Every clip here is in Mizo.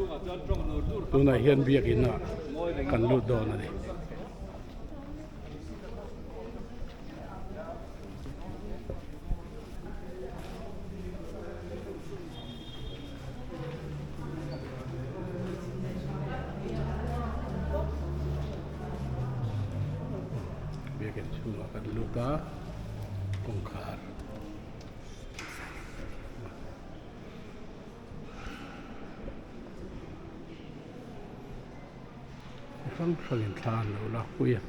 Tunah hian Biakin ah kan lut dawn a ni. Biakin chhung ah kan lut a, kawngkhar. Chi hrang hrang in thla an lo lak pui a.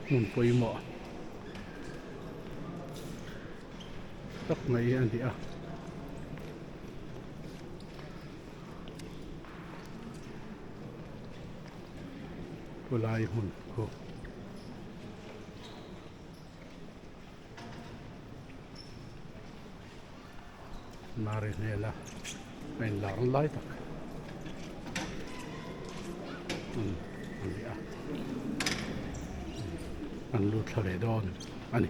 Hmun pawimawh tak mai a ni a. Khawlai hmun khaw Marihmela a in lak lai tak hmun a ni a, an lu thla leh dawn a ni.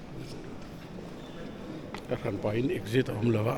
Ka hran pahin exit a awm lo a.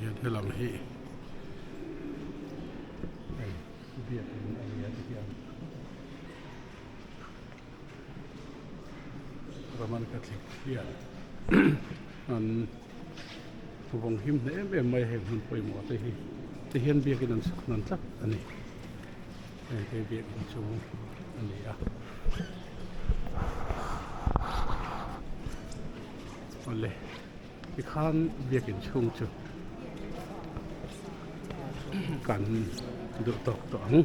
heti hian hei biak in a ni a ti hian roman catholic hian an pu vawng him hle em em mai hei an han pawimawh te hi te hian biak in an sak dan tlat a ni. hei hi biakin chhung a ni a awle ti khan biakin chhung chu kan duh tawk tawh ang.